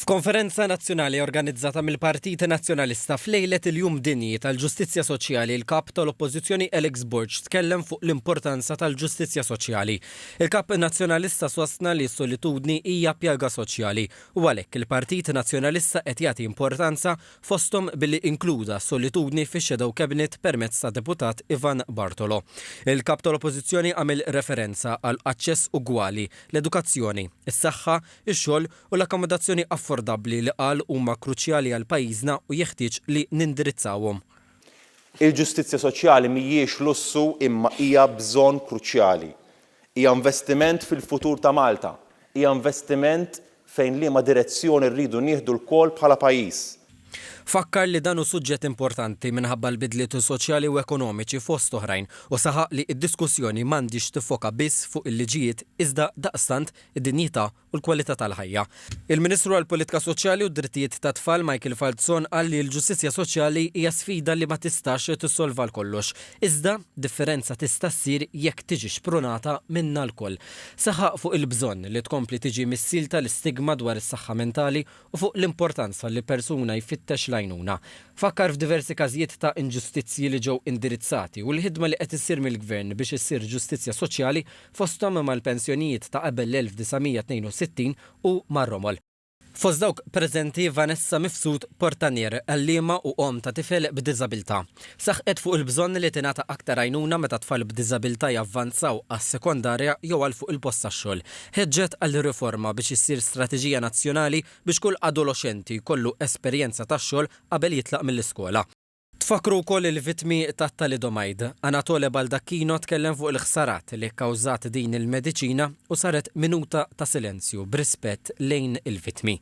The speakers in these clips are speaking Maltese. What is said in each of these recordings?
F'konferenza nazzjonali organizzata mill-Partit Nazzjonalista f'lejlet il-Jum Dinji tal-Ġustizzja Soċjali il-Kap tal-Oppożizzjoni Alex Borg tkellem fuq l-importanza tal-ġustizzja soċjali. Il-Kap Nazzjonalista sostna li s-solitudni hija pjaga soċjali u għalhekk il-Partit Nazzjonalista qed jagħti importanza fosthom billi inkluda s-solitudni fix-Shadow Cabinet permezz tad-Deputat Ivan Bartolo. Il-Kap tal-Oppożizzjoni għamel referenza għal aċċess ugwali, l-edukazzjoni, is-saħħa, ix-xogħol u l-akkomodazzjoni affordabbli li qal huma kruċjali għal pajjiżna u jeħtieġ li nindirizzawhom. Il-ġustizzja soċjali mhijiex lussu imma hija bżonn kruċjali. Hija investiment fil-futur ta' Malta. Hija investiment fejn liema direzzjoni rridu nieħdu lkoll bħala pajjiż. Fakkar li dan hu suġġett importanti minħabba l-bidliet soċjali u ekonomiċi fost oħrajn u saħaq li d-diskussjoni m'għandhiex tiffoka biss fuq il-liġijiet iżda daqstant id-dinjità u l-kwalità tal-ħajja. Il-Ministru għall-Politika Soċjali u d-Drittijiet tat-Tfal Michael Falzon qal li l-ġustizzja soċjali hija sfida li ma tistax tissolva għal kollox, iżda differenza tista' ssir jekk tiġi xprunata minna lkoll. Saħaq fuq il-bżonn li tkompli tiġi missielta l-istigma dwar is-saħħa mentali u fuq l-importanza li persuna jfittex l-għajnuna. Fakkar f'diversi każijiet ta' inġustizzji li ġew indirizzati u l-ħidma li qed issir mill-Gvern biex issir ġustizzja soċjali, fosthom mal-pensjonijiet ta' qabel l-1962 u mar-romol. Fost dawk preżenti Vanessa Mifsud Portanier, għalliema u omm ta' tifel b'diżabilità. Saħqet fuq il-bżonn li tingħata aktar għajnuna meta tfal b'diżabilità javvanzaw għas-sekondarja jew għal fuq il-post tax-xogħol. Ħeġġet għal riforma biex issir strateġija nazzjonali biex kull adoloxxenti jkollu esperjenza tax-xogħol qabel jitlaq mill-iskola. Tfakkru wkoll il-vittmi tat-thalidomide. Anatole Baldacchino tkellem fuq il-ħsarat li kkawżat din il-mediċina u saret minuta ta' silenzju b'rispett lejn il-vittmi.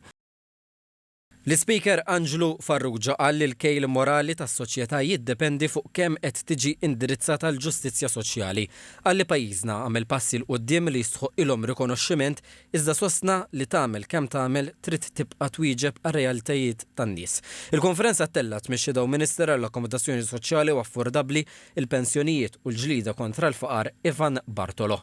L-Ispeaker Anġlu Farrugia qal li l-kejl morali tas-soċjetà jiddependi fuq kemm qed tiġi indirizzata l-ġustizzja soċjali. Qal li pajjiżna għamel passi 'l quddiem li jistħoqqilhom rikonoxximent iżda sostna li tagħmel kemm tagħmel trid tibqa' twieġeb għar-realtajiet tan-nies. Il-konferenza ttellgħet mix-Shadow Minister għall-Akkomodazzjoni Soċjali u Affordabbli, il-Pensjonijiet u l-Ġlieda kontra l-Faqar Ivan Bartolo.